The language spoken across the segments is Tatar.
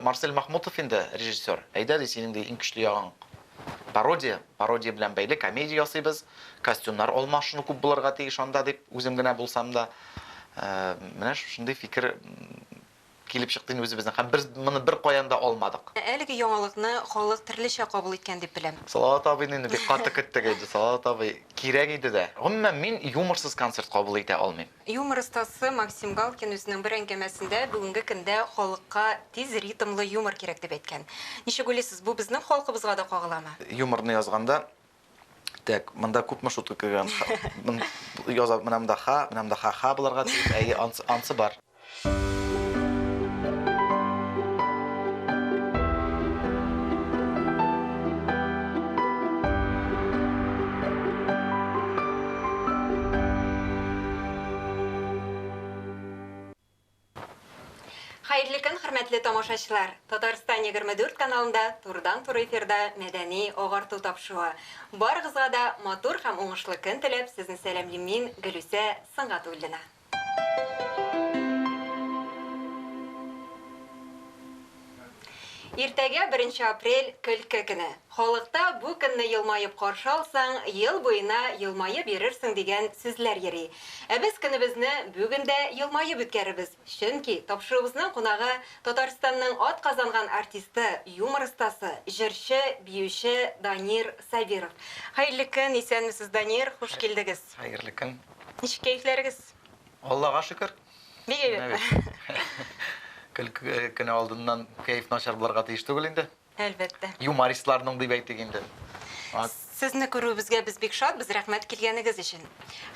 Марсель Мәхмүтов инде режиссер. Әйдә, ди, синең, ди, иң көчле ягың, пародия. Пародия белән бәйле комедия ясыйбыз. Костюмнар алмашыну күп булырга тиеш анда, дип, үзем генә булсам да, менә шушындый фикер килеп чыкты инде үзебезнең. Һәм без моны беркаян да алмадык. Әлеге яңалыкны халык төрлечә кабул иткән дип беләм. Салават абыйны инде бик каты көттек инде. Салават абый кирәк иде дә. Гомумән, мин юморсыз концерт кабул итә алмыйм. Юмор остасы Максим Галкин үзенең бер әңгәмәсендә бүгенге көндә халыкка тиз ритмлы юмор кирәк дип әйткән. Ничек уйлыйсыз, бу безнең халкыбызга да кагыламы? Юморны язганда, тәк, монда күпме шутка кергән, яза, менә монда ха, менә монда ха-ха булырга тиеш, әйе, ансы, ансы бар. Хәерле көн, хөрмәтле тамашачылар! Татарстан 24 каналында турыдан-туры эфирда мәдәни агарту тапшыруы. Барыгызга да матур һәм уңышлы көн теләп, сезне сәламлим мин, Гөлүсә Сөнгатуллина. Иртәгә, беренче апрель, көлке көне. Халыкта бу көнне елмаеп каршы алсаң, ел буена елмаеп йөрерсең дигән сүзләр йөри. Ә без көнебезне бүген дә елмаеп үткәрербез, чөнки тапшыруыбызның кунагы, Татарстанның атказанган артисты, юмор остасы, җырчы, биюче Данир Сабиров. Хәерле көн, исәнмесез, Данир, хуш килдегез! Хәерле көн! Ничек кәефләрегез? Аллага шөкер. Бик әйбәт. Көлке көне алдыннан кәеф начар булырга тиеш түгел инде. Әлбәттә. Юмористларның дип әйтик инде. Сезне күрүебезгә без бик шатбыз, рәхмәт килгәнегез өчен.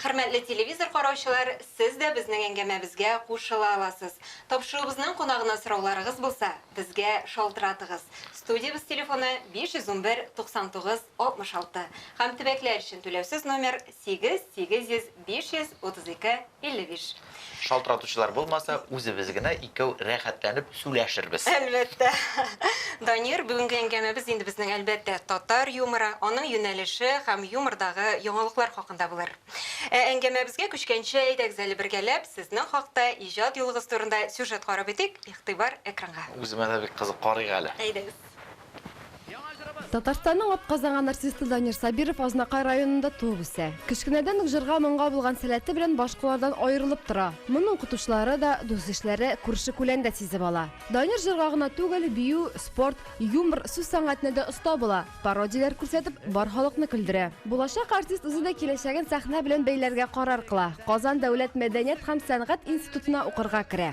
Хөрмәтле телевизор караучылар, сез дә безнең әңгәмәбезгә кушыла аласыз. Тапшыруыбызның кунагына сорауларыгыз булса, безгә шалтыратыгыз. Студиябез телефоны 511 99 66 һәм төбәкләр өчен түләүсез номер Сигез, сигез йөз, биш йөз, утыз ике, илле биш. Шалтыратучылар булмаса, үзебез генә икәү рәхәтләнеп сүләшербез. Әлбәттә. Данир, бүгенге әңгәмәбез инде безнең, әлбәттә, татар юморы, аның юнәлеше һәм юмордагы яңалыклар хакында булыр. Ә әңгәмәбезгә күчкәнче, әйдәгез әле бергәләп сезнең хакта, иҗат юлыгыз турында сюжет карап үтик, игътибар экранга. Үземә дә бик кызык, карыйк әле. Әйдәгез. Татарстанның атказанган артисты Данир Сабиров Азнакай районында туып үсә. Кечкенәдән үк җырга-моңга булган сәләте белән башкалардан аерылып тора. Моны укытучылары да, дус-ишләре, күрше-күлән дә сизеп ала. Данир җырга гына түгел, бию, спорт, юмор, сүз сәнгатенә дә оста була, пародияләр күрсәтеп, бар халыкны көлдерә. Булачак артист үзе дә киләчәген сәхнә белән бәйләргә карар кыла, Казан дәүләт мәдәният һәм сәнгать институтына укырга керә.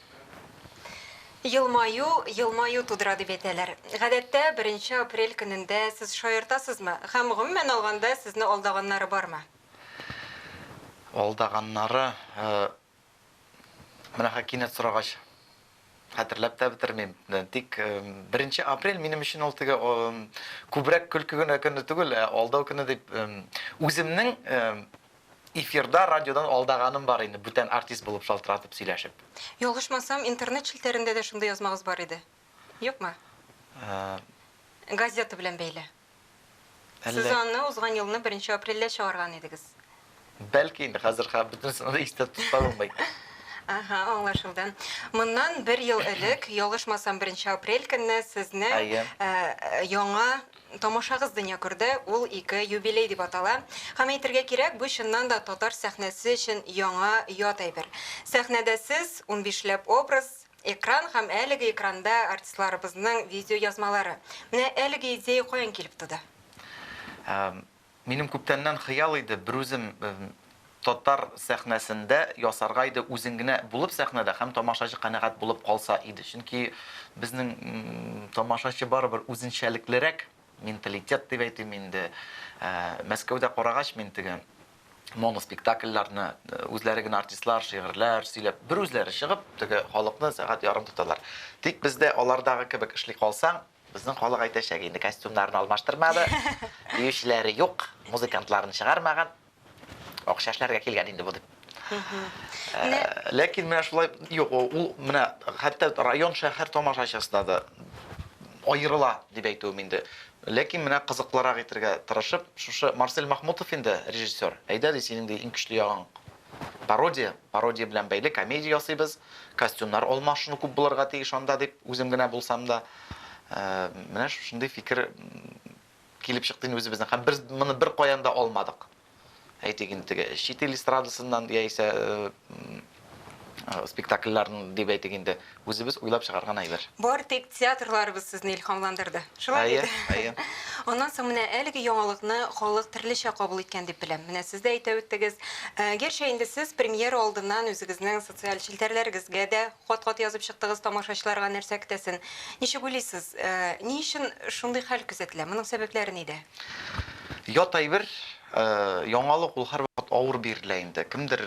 Елмаю, елмаю тудыра дип әйтәләр. Гадәттә, беренче апрель көнендә сез шаяртасызмы? Һәм, гомумән алганда, сезне алдаганнары бармы? Алдаганнары, менә хәзер кинәт сорагач, хәтерләп тә бетермим. Тик беренче апрель минем өчен ул теге күбрәк көлке генә көне түгел, ә алдау көне дип үземнең Эфирда, радиодан алдаганым бар инде, бүтән артист булып шалтыратып сөйләшеп. Ялгышмасам, интернет челтәрендә дә шундый язмагыз бар иде. Юкмы? Ә. Газета белән бәйле. Әллә. Сез аны узган елны беренче апрельдә чыгарган идегез. Бәлки инде, хәзер хә бөтенесен дә истә тота булмый. Аһа, аңлашылды. Моннан бер ел элек, ялгышмасам, беренче апрель көнне сезнең, Әйе. ә, яңа Тамашагыз дөнья күрде, ул ике юбилей дип атала. Һәм әйтергә кирәк, бу чыннан да татар сәхнәсе өчен яңа, ят әйбер. Сәхнәдә сез, унбишләп образ, экран һәм әлеге экранда артистларыбызның видеоязмалары. Менә әлеге идея каян килеп туды? Минем күптәннән хыял иде берүзем татар сәхнәсендә ясарга иде үзең генә булып сәхнәдә һәм тамашачы канәгать булып калса иде чөнки безнең тамашачы барыбер үзенчәлеклерәк менталитет дип әйтим инде мәскәүдә карагач мин теге моноспектакльләрне үзләре генә артистлар шигырьләр сөйләп бер үзләре чыгып теге халыкны сәгать ярым тоталар тик бездә алардагы кебек эшли калсаң Безнең халык әйтәчәк инде, костюмнарын алмаштырмады, биючеләре юк, музыкантларын чыгармаган, акча эшләргә килгән инде бу дип. Ә, ләкин менә шулай юк, ул менә хәтта район шәһәр тамашачысына да аерыла дип әйтүем инде. Ләкин менә кызыклырак итергә тырышып, шушы Марсель Махмутов инде режиссер. Әйдә ди, синең ди иң көчле ягың Пародия, пародия белән бәйле комедия ясыйбыз, костюмнар алмашыну күп булырга тиеш анда дип үзем генә булсам да, менә шушындый фикер килеп чыкты инде үзебезнең. Һәм без моны бер каян да алмадык. Әйтик инде теге чит ил эстрадасыннан яисә спектакльләрен дип әйтик инде Үзебез уйлап чыгарган әйбер. Бары тик театрларыбыз сезне илһамландырды. Шулай бит? Әйе, әйе. Аннан соң менә әлеге яңалыкны халык төрлечә кабул иткән дип беләм. Менә сез дә әйтә үттегез. Гәрчә инде сез премьера алдыннан үзегезнең социаль челтәрләрегезгә дә кат-кат язып чыктыгыз, тамашачыларга нәрсә көтәсен. Ничек уйлыйсыз, ни өчен шундый хәл күзәтелә? Моның сәбәпләре нидә? Ят әйбер, яңалык ул һәрвакыт авыр бирелә инде. Кемдер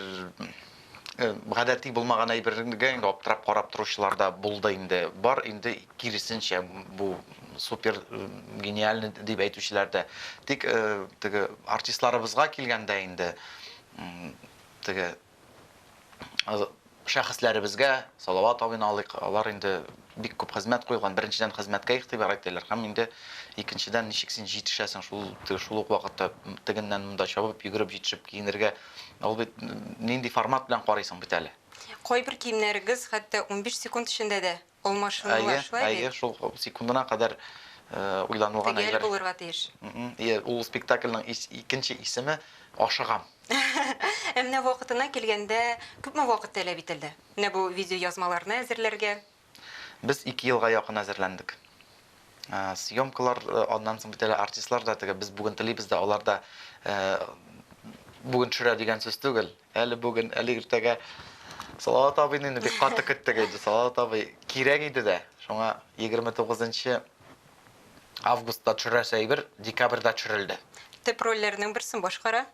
гадәти булмаган әйбергә инде аптырап карап торучылар да булды инде. Бар инде киресенчә бу супер гениальный дип әйтүчеләр дә. Тик теге артистларыбызга килгәндә инде теге шәхесләребезгә Салават абыйны алыйк, алар инде Бик күп хезмәт куелган. Беренчедән, хезмәткә игътибар итәләр һәм инде икенчедән, ничек син җитешәсең шул шул ук вакытта тегеннән монда чабып, йөгереп җитешеп киенергә? Ул бит нинди формат белән карыйсың бит әле. Кайбер киемнәрегез хәтта унбиш секунд эчендә дә алмашынулар, шулай бит? Әйе, әйе, шул секундына кадәр уйланылган әйбер. Төгәл булырга тиеш. Әйе, ул спектакльнең икенче исеме, Ашыгам. Ә менә вакытына килгәндә, күпме вакыт таләп ителде? Менә бу видеоязмаларны әзерләргә. Без ике елга якын әзерләндек. Съемкалар, аннан соң бит әле артистлар да теге, без бүген телибез дә, алар да бүген төшерә дигән сүз түгел. Әле бүген, әле иртәгә. Салават абыйны инде бик каты көттек инде. Салават абый кирәк иде дә. Шуңа 29 нчы августта төшерәсе әйбер декабрьдә төшерелде. Төп рольләрнең берсен башкара.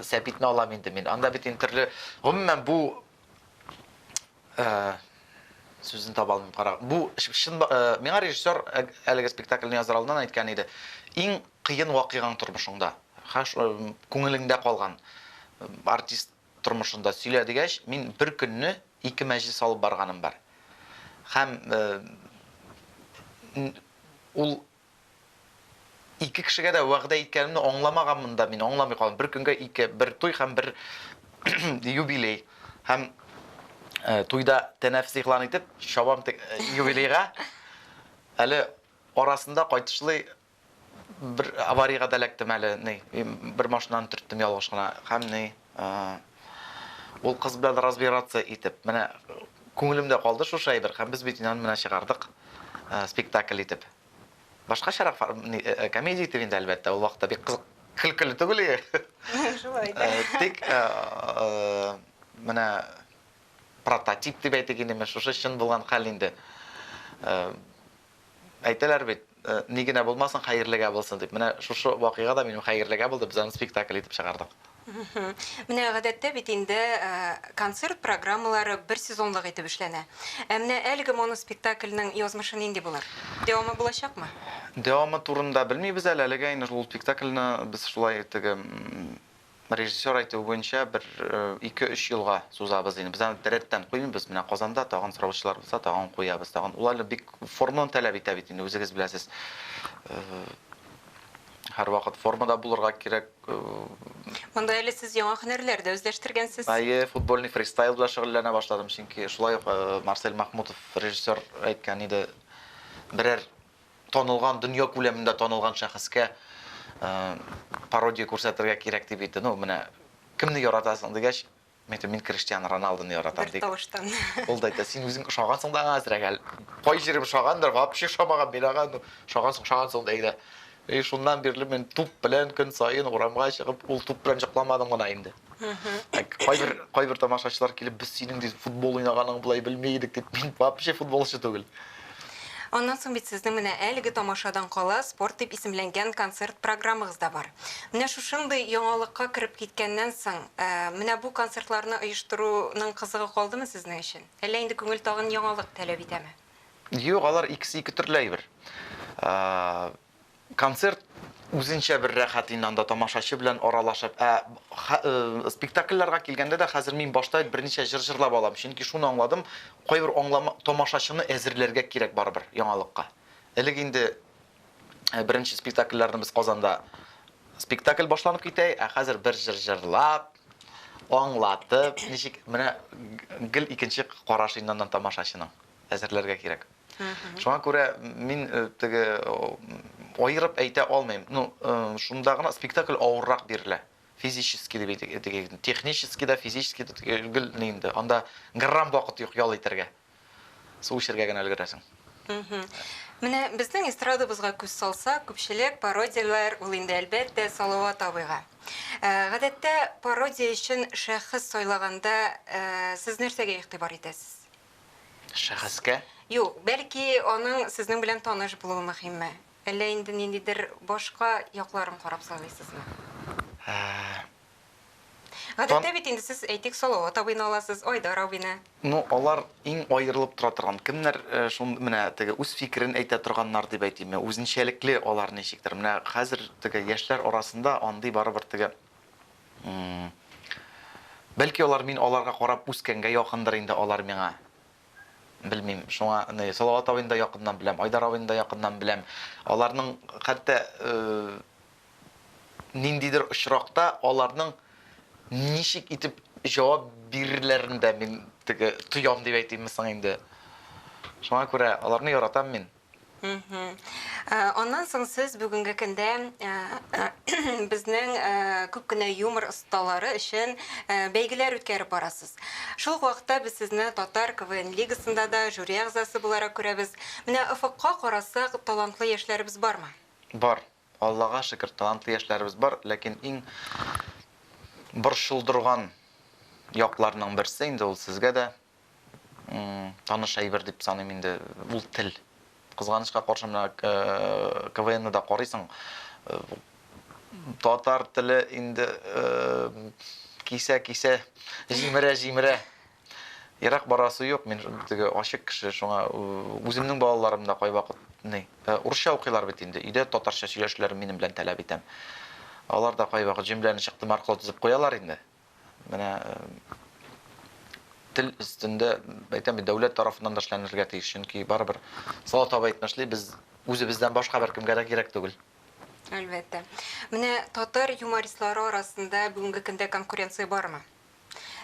Сәбитне алам инде мин. Анда бит интерле, гомумән бу э, сүзен таба алмыйм кара. Бу шын э, миңа режиссер э, әлеге спектакльне язар алдыннан әйткән иде. Иң кыен вакыйгаң тормышыңда, хаш күңелеңдә калган артист тормышында сөйлә дигәч, мин бер көнне ике мәҗлес алып барганым бар. Һәм ул Ике кешегә дә вәгъдә иткәнемне аңламаганмын да мин, аңламый калдым. Бер көнгә ике, бер туй һәм бер юбилей. Һәм туйда тәнәфес игълан итеп, чабам тек юбилейга. Әле арасында кайтышлый бер аварийга да эләктем әле, ни, бер машинаны төрттем ялгыш кына. Һәм ни, Ул кыз белән разбираться итеп, менә күңелемдә калды шушы әйбер, һәм без бит инде менә чыгардык спектакль итеп. Башкачарак комедия итеп инде, әлбәттә, ул вакытта бик кызык көлкеле түгел иде. Шулай да. Тик менә прототип дип әйтик инде, шушы чын булган хәл инде. Әйтәләр бит, ни генә булмасын, хәерлегә булсын дип. Менә шушы вакыйга да минем хәерлегә булды, без аны спектакль итеп чыгардык. Менә гадәттә бит инде концерт программалары бер сезонлык итеп эшләнә. Ә менә әлеге моноспектакльнең язмышы нинди булыр? Дәвамы булачакмы? Дәвамы турында белмибез әле. Әлегә инде ул спектакльне без шулай теге Режиссер әйтүе буенча, бер ике-өч елга сузабыз ди. Без аны рәттән куймыйбыз. Менә Казанда тагын сораучылар булса, тагын куябыз. Тагын ул әле бик форманы таләп итә бит инде, үзегез беләсез. Һәрвакыт формада булырга кирәк. Монда әле сез яңа һөнәрләр дә үзләштергәнсез. Әйе, футбольный фристайл белән шөгыльләнә башладым. Чөнки шулай ук Марсель Махмутов режиссер әйткән иде, берәр танылган, дөнья күләмендә танылган шәхескә пародия күрсәтергә кирәк дип әйтте. Ну, менә кемне яратасың дигәч, Мен әйтәм, мин Криштиану Роналдуны яратам дип. Тавыштан. Ул да әйтә, син үзең ошагансың да аңа әзрәк әле. Кай җирем ошагандыр, вообще ошамаган мин аңа, ну, ошагансың, ошагансың да әйдә. И шуннан бирле мин туп белән көн саен урамга чыгып, ул туп белән җыкламадым гына инде. Кайбер кайбер тамашачылар килеп, без синең дип футбол уйнаганың булай белми идек дип, мин вообще футболчы түгел. Аннан соң бит сезнең менә әлеге тамашадан кала спорт дип исемләнгән концерт программагыз да бар. Менә шушындый яңалыкка кереп киткәннән соң, менә бу концертларны оештыруның кызыгы калдымы сезнең өчен? Әллә инде күңел тагын яңалык таләп итәме? Юк, алар икесе ике төрле әйбер. Концерт үзенчә бер рәхәт инде анда тамашачы белән аралашып. Ә спектакльләргә килгәндә дә хәзер мин башта берничә җыр җырлап алам, чөнки шуны аңладым, кайбер аңлама тамашачыны әзерләргә кирәк барыбер яңалыкка. Элек инде беренче спектакльләрне без Казанда спектакль башланып китә, ә хәзер бер җыр җырлап, аңлатып, ничек менә гел икенче караш инде аннан тамашачының. әзерләргә кирәк. Шуңа күрә мин э, теге аерып әйтә алмыйм. Ну, э, шунда гына спектакль авыррак бирелә. Физически дип әйтик, технически да, физически да гел инде. Анда грамм вакыт юк ял итәргә. Су эчәргә генә өлгерәсең. Менә безнең эстрадабызга күз салса, күпчелек пародияләр ул инде әлбәттә Салават абыйга. Э, гадәттә пародия өчен шәхес сайлаганда э, сез нәрсәгә игътибар итәсез? шәхескә? Юк, бәлки, аның сезнең белән таныш булуы мөһимме? Әллә инде ниндидер башка якларын карап сайлыйсызмы? Гадәттә бит инде сез, әйтик, Салават абыйны аласыз, Айдар абыйны. Ну, алар иң аерылып тора торган. Кемнәр шул менә теге үз фикерен әйтә торганнар дип әйтимме, үзенчәлекле алар ничектер. Менә хәзер теге яшьләр арасында андый барыбер теге Бәлки алар мин аларга карап үскәнгә якындыр инде алар миңа. Белмим. Шуңа аны Салават абыйны да якыннан беләм, Айдар абыйны да якыннан беләм. Аларның хәтта ниндидер очракта аларның ничек итеп җавап бирерләрен дә мин теге тоям дип әйтимме соң инде. Шуңа күрә аларны яратам мин. Аннан соң сез бүгенге көндә безнең күп кенә юмор осталары өчен бәйгеләр үткәреп барасыз. Шул ук вакытта без сезне Татар КВН лигасында да жюри әгъзасы буларак күрәбез. Менә офыкка карасак, талантлы яшьләребез бармы? Бар. Аллага шөкер, талантлы яшьләребез бар. Ләкин иң борчылдырган якларның берсе инде ул сезгә дә, таныш әйбер дип саныйм инде, ул тел. Кызганычка каршы менә э, КВНны да карыйсың. Э, татар теле инде э, кисә-кисә, җимерә-җимерә. Ерак барасы юк, мин теге ачык кеше, шуңа үземнең балаларым да кайвакыт ни, урысча укыйлар бит инде. Өйдә татарча сөйләшүләрен минем белән таләп итәм. Алар да кайвакыт җөмләне чыктым аркылы төзеп куялар инде. Менә тел өстендә, әйтәм бит, дәүләт тарафыннан да эшләнергә тиеш, чөнки барыбер Салат абый әйтмешли, без үзебездән башка беркемгә дә кирәк түгел. Әлбәттә. Менә татар юмористлары арасында бүгенге көндә конкуренция бармы?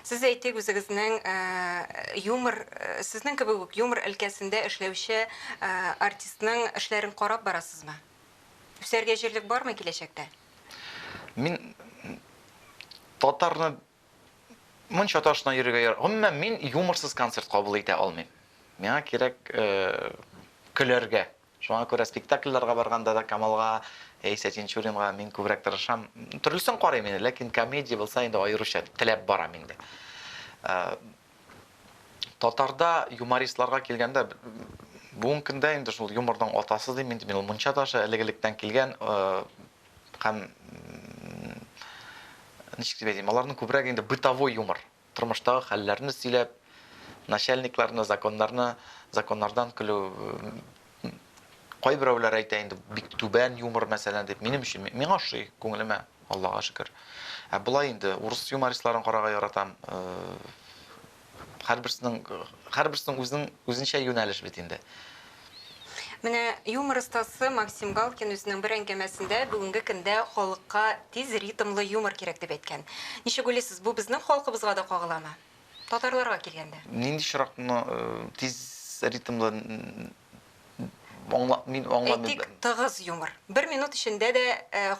Сез әйтик, үзегезнең юмор, сезнең кебек үк юмор өлкәсендә эшләүче артистның эшләрен карап барасызмы? Үсәргә җирлек бармы киләчәктә? Мин татарны монча ташына йөрергә яр. Гомумән мин юморсыз концерт кабул итә алмыйм. Миңа кирәк э, көләргә. Шуңа күрә спектакльләргә барганда да Камалга яисә Тинчуринга мин күбрәк тырышам. Төрлесен карыйм инде, ләкин комедия булса инде аеруча теләп барам инде. Э, Татарда юмористларга килгәндә, бүгенге көндә инде шул юморның атасы дим инде мин, ул Мунча ташы элек-электән килгән э, һәм м, ничек дип әйтим, аларның күбрәк инде бытовой юмор, тормыштагы хәлләрне сөйләп, начальникларны, законнарны, законнардан көлү, Кайберәүләр әйтә инде, бик түбән юмор, мәсәлән, дип. Минем өчен миңа ошый, күңелемә, Аллага шөкер. Ә болай инде урыс юмористларын карарга яратам. Һәрберсенең һәрберсенең үзенең үзенчә юнәлеш бит инде. Менә юмор остасы Максим Галкин үзенең бер әңгәмәсендә бүгенге көндә халыкка тиз ритмлы юмор кирәк дип әйткән. Ничек уйлыйсыз, бу безнең халкыбызга да кагыламы? Татарларга килгәндә. Нинди чыракны тиз ритмлы аңла, мин аңламыйм. Әйтик, тыгыз юмор. Бер минут эчендә дә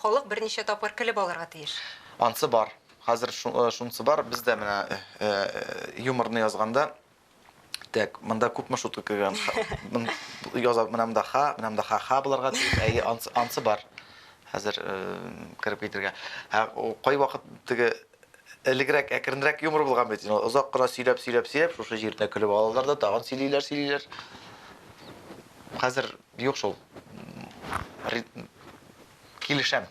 халык берничә тапкыр көлеп алырга тиеш. Ансы бар. Хәзер шунсы бар. Без дә менә юморны язганда, так, монда күпме шутка кергән? Яза, менә монда ха, менә монда ха-ха булырга тиеш. Әйе, ансы бар. Хәзер кереп китергә. Кайвакыт теге элегрәк әкренрәк юмор булган бит инде. Озак кына сөйләп, сөйләп, сөйләп, шушы җиренә көлеп алалар да, тагын сөйлиләр, сөйлиләр. Хәзер юк шул. Килешәм.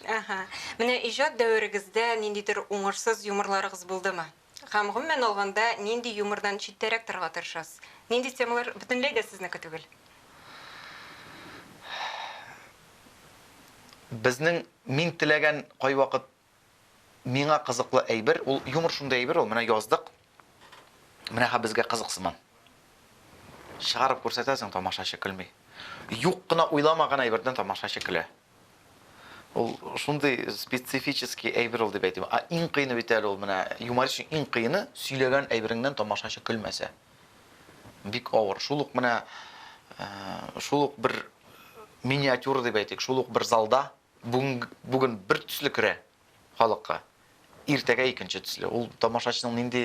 Ага. Менә иҗат дәверегездә ниндидер уңышсыз юморларыгыз булдымы? Һәм гомумән алганда, нинди юмордан читтәрәк торырга тырышасыз? Нинди темалар бөтенләй дә сезнеке түгел? Безнең мин теләгән кайвакыт Миңа кызыклы әйбер, ул юмор шундый әйбер ул, менә яздык, менә һәм безгә кызык сыман. Чыгарып күрсәтәсең, тамашачы көлми. Юк кына уйламаган әйбердән тамашачы көлә. Ул шундый специфический әйбер ул дип әйтим. А иң кыены бит әле ул менә юморист өчен иң кыены сөйләгән әйбереңнән тамашачы көлмәсә. Бик авыр. Шул ук менә э, шул ук бер миниатюра дип әйтик, шул ук бер залда Бүгенг бүген бер төсле керә халыкка, иртәгә икенче төсле. Ул тамашачының нинди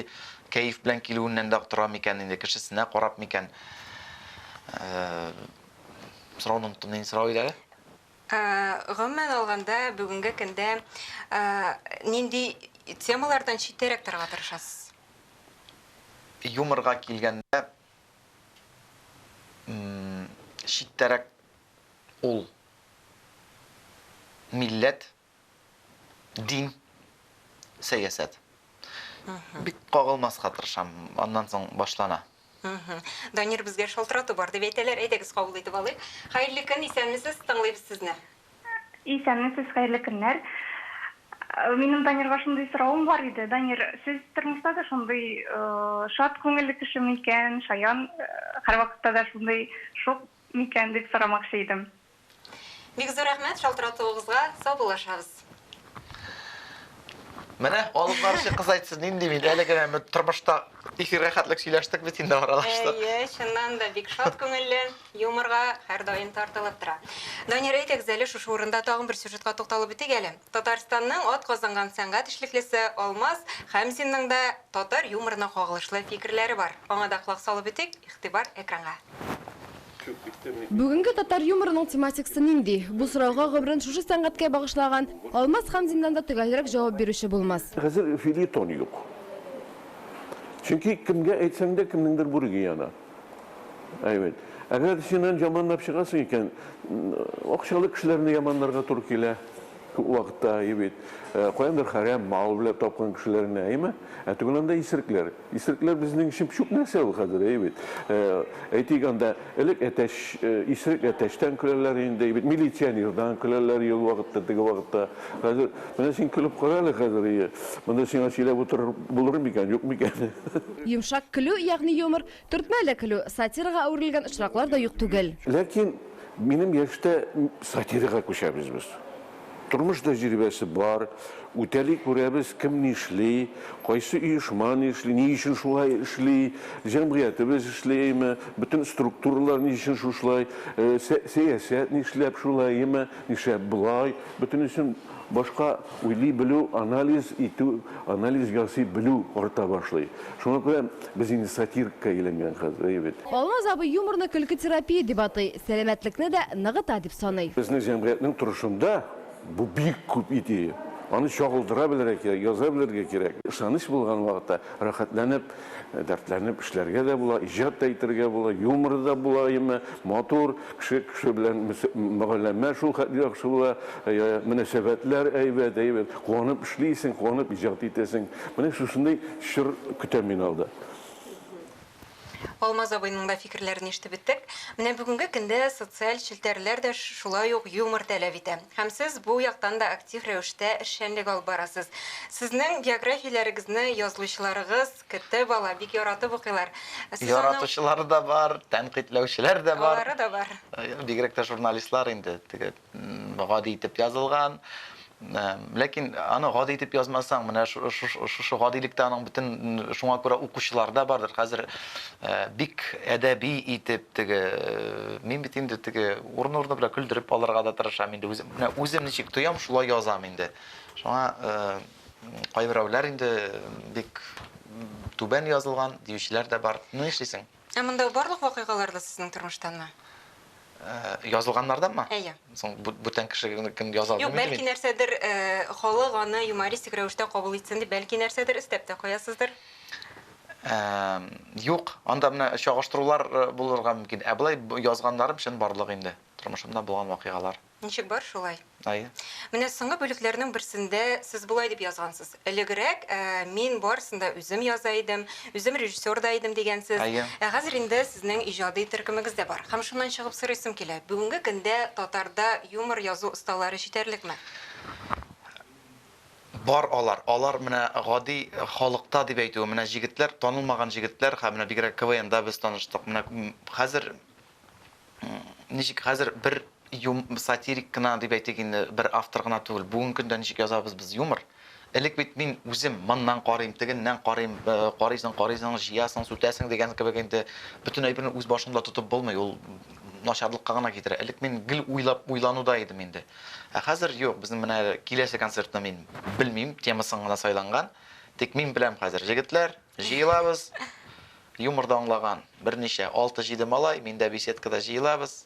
кәеф белән килүеннән дә тора микән инде, кешесенә карап микән? Сорауны оныттым, нинди сорау иде әле? Гомумән алганда, бүгенге көндә нинди темалардан читтәрәк торырга тырышасыз? Юморга килгәндә, читтәрәк ул милләт, дин, сәясәт. Бик кагылмаска тырышам, аннан соң башлана. Данир, безгә шалтырату бар дип әйтәләр, әйдәгез кабул итеп алыйк. Хәерле көн, исәнмесез, тыңлыйбыз сезне. Исәнмесез, хәерле көннәр. Минем Данирга шундый соравым бар иде. Данир, сез тормышта да шундый шат күңелле кешеме икән, шаян, һәрвакытта да шундый шук Микән дип сорамакчы идем. Бик зур рәхмәт шалтыратуыгызга, саубуллашабыз. Менә алып баручы кыз әйтсен, нинди мин, әле генә бер тормышта эфирга хәтлек сөйләштек бит инде аралаштык. Әйе, чыннан да бик шат күңелле, юморга һәрдаим тартылып тора. Данир, әйдәгез әле шушы урында тагын бер сюжетка тукталып үтик әле. Татарстанның атказанган сәнгать эшлеклесе Алмаз Хәмзинның да татар юморына кагылышлы фикерләре бар. Аңа да колак салып үтик, игътибар экранга. Бүгенге татар юморының тематикасы нинди? Бу сорауга гомерен шушы сәнгатькә багышлаган Алмаз Хәмзиннан да төгәлрәк җавап бирүче булмас. Хәзер фельетон юк. Чөнки кемгә әйтсәң дә, кемнеңдер бүреге яна. Әйбәт. Әгәр син аны яманлап чыгасың икән, акчалы кешеләрне яманларга туры килә. Күп вакытта әйбәт. Э, каяндыр хәрәм мал белән тапкан кешеләрне, әйме? Ә түгел анда исеркләр. Исеркләр безнең өчен чүп нәрсә ул хәзер, әйбәт. Э, әйтик анда элек әтәч, э, исерек әтәчтән көләләр инде, әйбәт. Милиционердан көләләр ел вакытта, теге вакытта. Хәзер менә син көлеп кара әле хәзер. Монда сиңа сөйләп утырып булыр микән, юк микән? Йомшак көлү, ягъни юмор, төртмәле көлү, сатирага әверелгән очраклар да юк түгел. Ләкин минем яшьтә сатирага күчәбез без. Тормыш тәҗрибәсе бар, үтәли күрәбез, кем нишли, кайсы оешма нишли, ни өчен шулай эшли, җәмгыятебез эшлиме, бөтен структуралар ни өчен шушлай, сәясәт нишләп шулаймы, нишләп болай, бөтенесен. Башка уйлый белү, анализ итү, анализ ясый белү арта башлый. Шуңа күрә без инде сатирикка әйләнгән хәзер, әйе бит? Алмаз абый юморны көлке терапия дип атый, сәламәтлекне дә ныгыта дип саный. Безнең җәмгыятьнең торышында бу бик күп идея. Аны чагылдыра белергә кирәк, яза белергә кирәк. Ышаныч булган вакытта, рәхәтләнеп. Дәртләнеп эшләргә дә була, иҗат та итәргә була, юморы да була, әмма матур, кеше кеше белән мөгаләмә шул хәтле яхшы була, мөнәсәбәтләр әйбәт, әйбәт, куанып эшлисең, куанып иҗат итәсең. Менә шушындый чор көтә мине алда. Алмаз абыйның да фикерләрен ишетеп беттек. Менә бүгенге көндә социаль челтәрләр дә шулай ук юмор таләп итә. Һәм сез бу яктан да актив рәвештә эшчәнлек алып барасыз. Сезнең биографияләрегезне язылучыларыгыз, КТ бала, бик яратып укыйлар. Сез аның. Яратучылар да бар, тәнкыйтьләүчеләр дә бар. Алары да бар. Бигрәк тә журналистлар инде теге гади итеп язылган. Ләкин аны гади итеп язмасаң, менә шушы гадилектә аның бөтен шуңа күрә укучылар да бардыр. Хәзер Бик әдәби итеп теге, мин бит инде теге урыны-урыны белән көлдереп алырга да тырышам инде үзем. Менә үзем ничек тоям, шулай язам инде. Шуңа кайберәүләр инде бик түбән язылган диючеләр дә бар. Ну нишлисең? Ә монда барлык вакыйгалар да сезнең тормыштанмы? язылганнардан ма? Әйе. Соң бүтән кеше кем яза алмый. Юк, бәлки нәрсәдер халык аны юмористик рәвештә кабул итсен дип, бәлки нәрсәдер өстәп тә куясыздыр. Юк, анда менә чагыштырулар булырга мөмкин. Ә болай язганнарым чынбарлык инде, тормышымда булган вакыйгалар. Ничек бар, шулай. Ай. Менә соңгы бүлекләрнең берсендә сез болай дип язгансыз, Элегрәк мин барысын да үзем яза идем, үзем режиссер да идем, дигәнсез. Әйе. Ә хәзер инде сезнең иҗади төркемегез дә бар. Һәм шуннан чыгып сорыйсым килә, бүгенге көндә татарда юмор язу осталары җитәрлекме? Бар алар. Алар менә гади халыкта дип әйтүем, менә җегетләр, танылмаган җегетләр, һәм менә бигрәк КВНда без таныштык. Менә хәзер Ничек хәзер бер юм, сатирик кына дип әйтик инде, бер автор гына түгел. Бүгенге көндә ничек язабыз без юмор? Элек бит мин үзем моннан карыйм, тегеннән карыйм, э, карыйсың, карыйсың, җыясың, сүтәсең дигән кебек инде бөтен әйберне үз башыңда тотып булмый, ул начарлыкка гына китерә. Элек мин гел уйлап, уйлануда идем инде. Ә хәзер юк, безнең менә киләсе концертны мин белмим, темасын гына сайланган. Тик мин беләм хәзер, җегетләр, җыелабыз, Юмор да аңлаган, берничә, алты-җиде малай, мин дә беседкада җыелабыз.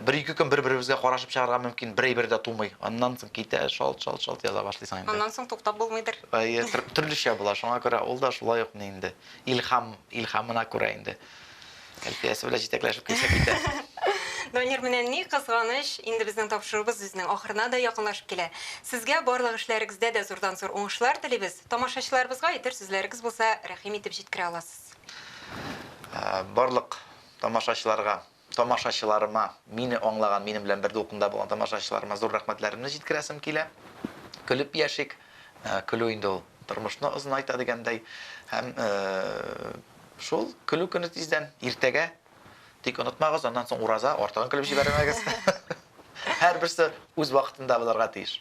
Бер-ике көн бер-беребезгә карашып чыгарга мөмкин, бер әйбер дә тумый. Аннан соң китә, шалт-шалт-шалт яза башлыйсың инде. Аннан соң туктап булмыйдыр. Әйе, төрлечә була, шуңа күрә ул да шулай ук ни инде, илһам, илһамына күрә инде. Әлфиясе белән җитәкләшеп килсә китә. Данир, менә ни кызганыч, инде безнең тапшыруыбыз үзенең ахырына да якынлашып килә. Сезгә барлык эшләрегездә дә зурдан-зур уңышлар телибез. Тамашачыларыбызга әйтер сүзләрегез булса, рәхим итеп җиткерә аласыз. Барлык тамашачыларга, тамашачыларыма, мине аңлаган, минем белән бер дулкында булган тамашачыларыма зур рәхмәтләремне җиткерәсем килә. Көлеп яшик, көлү инде ул тормышны озынайта дигәндәй. Һәм шул, көлү көне тиздән, иртәгә. Тик онытмагыз, аннан соң ураза, артыгын көлеп җибәрмәгез. Һәрберсе үз вакытында булырга тиеш.